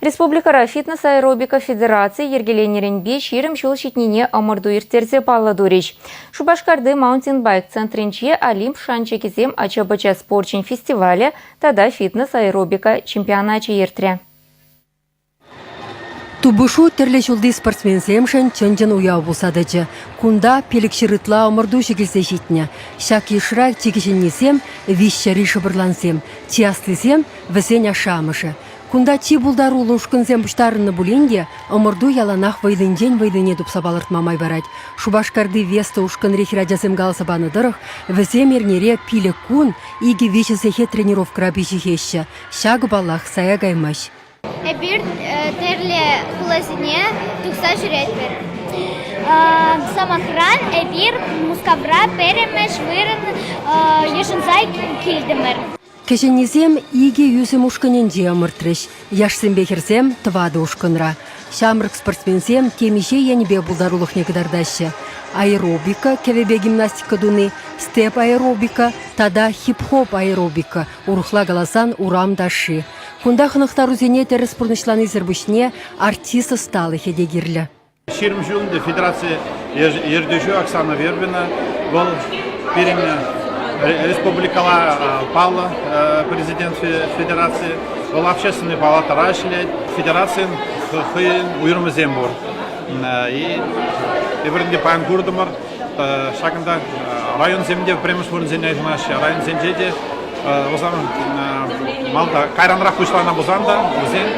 Республикӑра фитнес аэробика федерацийӗ йӗркеленӗренпе ҫирӗм ҫул ҫитнине ӑмӑрту ирттерсе паллӑ турӗҫ. Шупашкарти маунтинбайк центрӗнче Олимп шанчӑкӗсем ача-пӑча спорчӗн фестивалӗ тата фитнес аэробика чемпионачӗ иртрӗ. Тупӑшу тӗрлӗ ҫулти спортсменсемшӗн чӑн-чӑн уяв пулса тӑчӗ. Кунта пилӗкҫӗр ытла ӑмӑртуҫӑ килсе ҫитнӗ. Ҫак йышра чи кӗҫӗннисем, виҫҫӗри шӑпӑрлансем, чи аслисем Вӗсен ашшӗ-амӑшӗ кунта чи пултаруллӑ ушкӑнсем пуҫтарӑннӑ пулин те ӑмӑрту яланах вӑйлинчен-вӑйлине тупса палӑртма май парать. Шупашкарти Веста ушкӑнри хӗрачасем каласа панӑ тӑрӑх, вӗсем эрнере пилӗк кун икӗ-виҫӗ сехет тренировкӑра пиҫӗхеҫҫӗ. Ҫакӑ, паллах, сая каймасть. Эпир тӗрлӗ хуласене тухса ҫӳретпӗр. Сӑмахран, эпир Мускавра пӗрремӗш вырӑн йышӑнса килтӗмӗр. Кӗҫӗннисем икӗ ӳсӗм ушкӑнӗнче ӑмӑртрӗҫ. Яшсемпе хӗрсем тӑватӑ ушкӑнра. Ҫамрӑк спортсменсем темиҫе енӗпе пултарулӑхне кӑтартаҫҫӗ. Аэробика, кӗвӗпе гимнастика туни, степ аэробика тата хип-хоп аэробика, урӑхла каласан урам ташши. Кунта хӑнӑхтарусене тӗрӗс пурнӑҫланисӗр пуҫне артист ӑсталӑхӗ те кирлӗ. Ҫирӗм ҫул федераци ертӳҫи Оксана Вербина вӑл пирӗн республикӑла паллӑ президент федераци. Вӑл общественнӑй палатӑра ӗҫлет. Федерацин хӑйӗн уйрӑмӗсем пур. Эпир те паян куртӑмӑр. Ҫакӑнта районсем те пӗрремӗш вырӑнсене йышӑнаҫҫӗ. Районсенче те усам малта кайранрах пуҫланӑ пулсан та вӗсен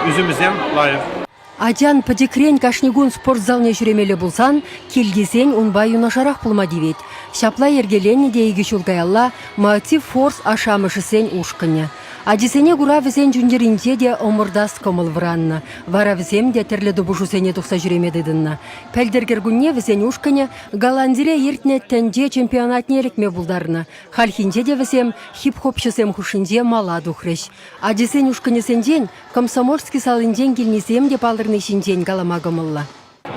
ӳсӗмӗсем лайӑх. Атян пӗчӗкрен кашни кун спорт залне ҫӳремелле пулсан кил тесен унпа юнашарах пулма тивет. Ҫапла йӗркеленнӗ те икӗ ҫул каялла Maoti Force ашшӗ-амӑшӗсен ушкӑнӗ. Ачисене кура вӗсен чун-чӗринче те ӑмӑртас кӑмӑл вӑраннӑ. Вара вӗсем те тӗрлӗ тупӑшусене тухса ҫӳреме тытӑннӑ. Пӗлтӗр кӗркунне вӗсен ушкӑнӗ Голландире иртнӗ тӗнче чемпионатне ӗлӗкме пултарнӑ. Хальхинче те вӗсем хип-хопҫӑсем хушшинче мала тухрӗҫ. Ачисен ушкӑнӗсенчен Комсомольски салинчен килнисем те палӑрни ҫинчен калама кӑмӑллӑ.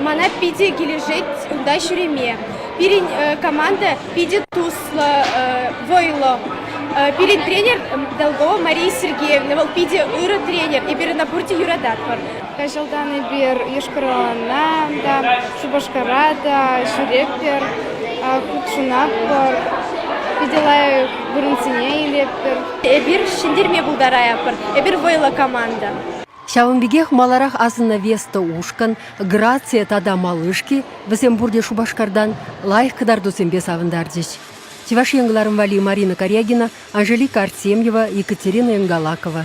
Мана питӗ килӗшет унта ҫӳреме. Пирӗн команда питӗ туслӑ, вӑйлӑ. Пирӗн тренер Долгова Мария Сергеевна, вӑл питӗ ырӑ тренер. Эпир ӑна пурте юрататпӑр. Каҫалтан эпир Йошкар-Олана та, Шупашкара та ҫӳретпӗр, хутшӑнатпӑр, питӗ лайӑх вырӑнсене илетпӗр. Эпир ҫӗнтерме пултаратпӑр. Эпир вӑйлӑ команда. Ҫавӑн пекех маларах асӑннӑ Веста ушкӑн, Грация тата Малышки, вӗсем пурте Шупашкартан, лайӑх кӑтартусемпе савӑнтарчӗҫ. Чӑваш Ен кӑларӑм валли Марина Корягина, Анжелика Артемьева, Екатерина Энгалакова.